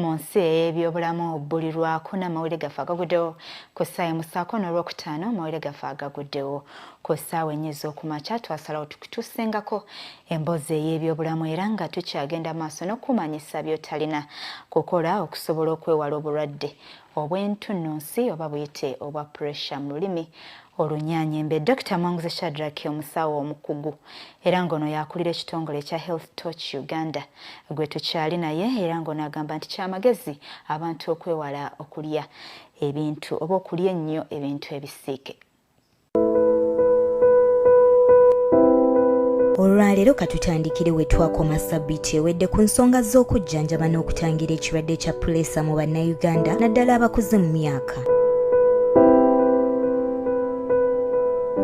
mu nsi ey'ebyobulamu buli lwakuna mawulire gaffe agaguddewo ku ssaawa emusaako n'olwokutaano mawulire gaffe agaguddewo ku ssaawa ennya ez'okumakya twasalawo tukusengako emboozi ey'ebyobulamu era nga tukyagenda maaso n'okumanyisa by'otalina kukola okusobola okwewala obulwadde obw'entunnunsi oba buyite obwa puresha mu lulimi olunyanyembe dokita mwanguzi shadrack omusawo omukugu era ng'ono yakulira ekitongole ekya health toch uganda gwe tukyali naye era ng'ono agamba nti kyamagezi abantu okwewala okulya ebintu oba okulya ennyo ebintu ebisiike olwaleero katutandikire we twakoma sabiti ewedde ku nsonga z'okujjanjaba n'okutangira ekirwadde kya puleesa mu bannayuganda naddala abakuze mu myaka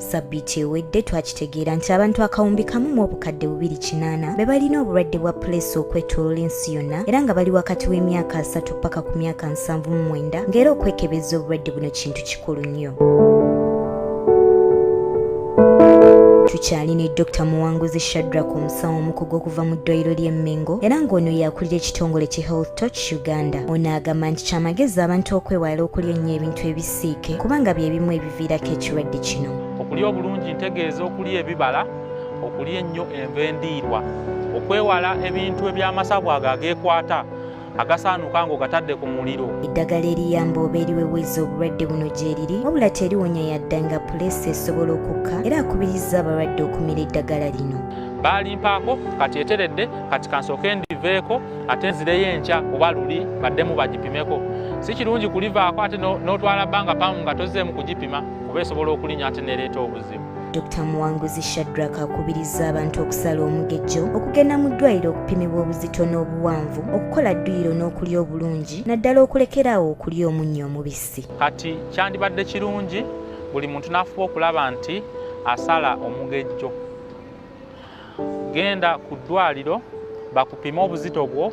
sabiti ewedde twakitegeera nti abantu akawumbi kamu mu obukadde bubiri kinaana be balina obulwadde bwa puleesa okwetolola ensi yonna era nga bali wakati w'emyaka asatu paka ku myaka nsanvu mu mwenda ng'era okwekebeza obulwadde buno kintu kikulu nnyo tukyali ne dr muwanguzi shadrak omusawo omukugu okuva mu ddwaliro ly'e mengo era ng'ono yakulira ekitongole ki health toch uganda ono agamba nti kyamagezi abantu okwewala okulya ennyo ebintu ebisiike kubanga bye bimu ebiviirako ekirwadde kino okulya obulungi ntegeeza okulya ebibala okulya ennyo enva endiirwa okwewala ebintu eby'amasavu ago ageekwata agasaanuka ng'ogatadde ku muliro eddagala eriyamba oba eriweweza obulwadde buno gyeriri wabula teriwonya yadda nga puleesa esobola okukka era akubiriza abalwadde okumira eddagala lino baalimpaako kati eteredde kati kansooke ndiveeko ate nzireyo enkya kuba luli baddemu bagipimeko si kirungi kulivaako ate n'otwala bbanga pamu nga tozeemu kugipima kuba esobola okulinya ate nereeta obuzibu Dr Muwanguzi Shadrack akubirizza abantu okusala omugejjo okugenda mu ddwaliro okupimibwa obuzito n'obuwanvu okukola dduyiro n'okulya obulungi naddala okulekeraawo okulya omunnyo omubisi kati kyandibadde kirungi buli muntu n'afuba okulaba nti asala omugejjo genda ku ddwaliro bakupime obuzito bwo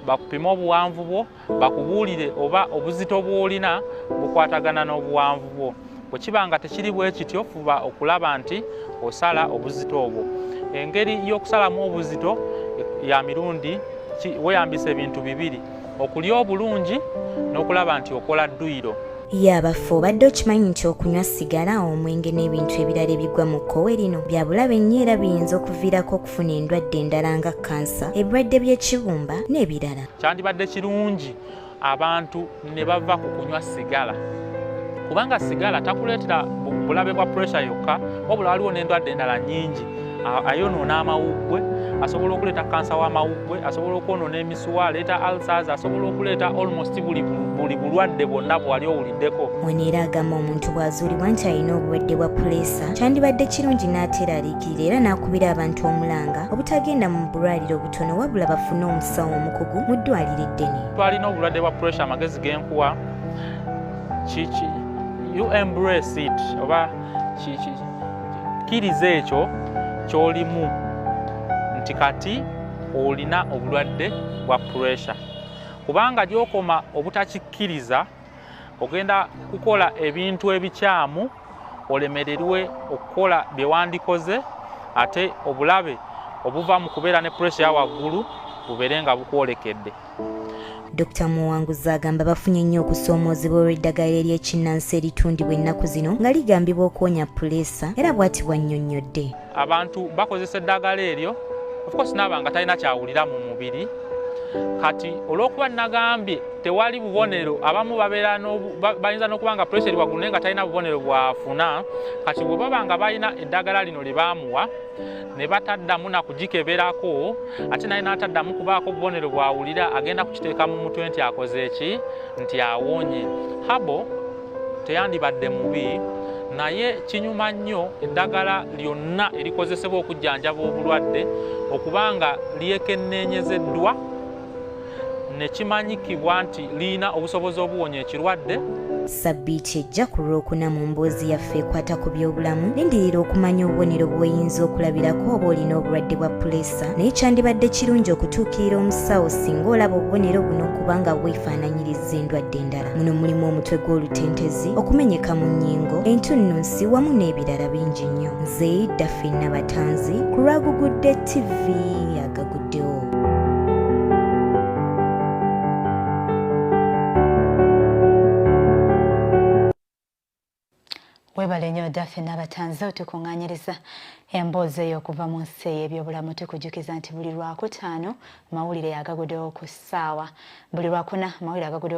bakupime obuwanvu bwo bakubuulire oba obuzito bw'olina bukwatagana n'obuwanvu bwo bwe kiba nga tekiri bwe kityo fuba okulaba nti osala obuzito obwo engeri y'okusalamu obuzito ya mirundi weyambisa ebintu bibiri okulya obulungi n'okulaba nti okola dduyiro yabaffe obadde okimanyi nti okunywa sigala omwenge n'ebintu ebirala ebigwa mu kkowe lino bya bulabe nnyo era biyinza okuviirako okufuna endwadde endala nga kansa ebirwadde by'ekibumba n'ebirala kyandibadde kirungi abantu ne bava ku kunywa sigala kubanga sigala takuleetera bulabe bwa puresha yokka wabula waliwo n'endwadde endala nyingi ayonoona amawuggwe asobola okuleeta kansa w'amawuggwe asobola okwonoona emisuwa aleeta alsas asobola okuleeta almost buli bulwadde bwonna bwewali owuliddeko weneera agamba omuntu bw'azuulibwa nti alina obulwadde bwa puleesa kyandibadde kirungi n'ateeraliikirira era n'akubira abantu omulanga obutagenda mu bulwaliro tono wabula bafune omusawo omukugu mu ddwaliro eddene twalina obulwadde bwa pressure amagezi genkuwa kiki you embrace it oba kiki kkiriza ekyo kyolimu nti kati olina obulwadde bwa pressure kubanga gyokoma obutakikkiriza ogenda kukola ebintu ebikyamu olemererwe okukola bye wandikoze ate obulabe obuva mu kubeera ne puresha ya waggulu bubeere nga bukwolekedde dr muwanguzi agamba bafunye nnyo okusoomoozebwa olw'eddagala ery'ekinnansi eritundibwa ennaku zino nga ligambibwa okuwonya puleesa era bw'ati bw'annyonnyodde abantu bakozesa eddagala eryo ofcourse naaba nga talina kyawulira mu mubiri kati olwokuba nagambye tewali bubonero abamu bayinza nokuba nga pressure eri waggulu naye nga talina bubonero bwafuna kati bwebaba nga balina eddagala lino lyebamuwa ne bataddamu nakugikeberako ate naye nataddamu kubaako bubonero bwawulira agenda kukiteeka mu mutwe nti akoze eki nti awonye habo teyandibadde mubi naye kinyuma nnyo eddagala lyonna erikozesebwa okujjanjaba obulwadde okuba nga lyekenneenyezeddwa ne kimanyikibwa nti lirina obusobozi obuwonya ekirwadde sabbiiti ejja ku lwokuna mu mboozi yaffe ekwata ku byobulamu lindirira okumanya obubonero bw'oyinza okulabirako oba olina obulwadde bwa puleesa naye kyandibadde kirungi okutuukirira omusawo singa olaba obubonero buno kubanga bwefaananyiriza endwadde endala muno mulimu omutwe gw'olutentezi okumenyeka mu nnyingo entunnunsi wamu n'ebirala bingi nnyo nze daffi nabatanzi ku lwagugudde ttivi agaguddewo webale nyo dafe nabatanze otukuŋŋanyiriza emboozi eyo okuva mu nsi ey'ebyobulamu tukujukiza nti buli lwakutaano mawulire agagudewo ku ssaawa buli lwakuna mawulire agagudewo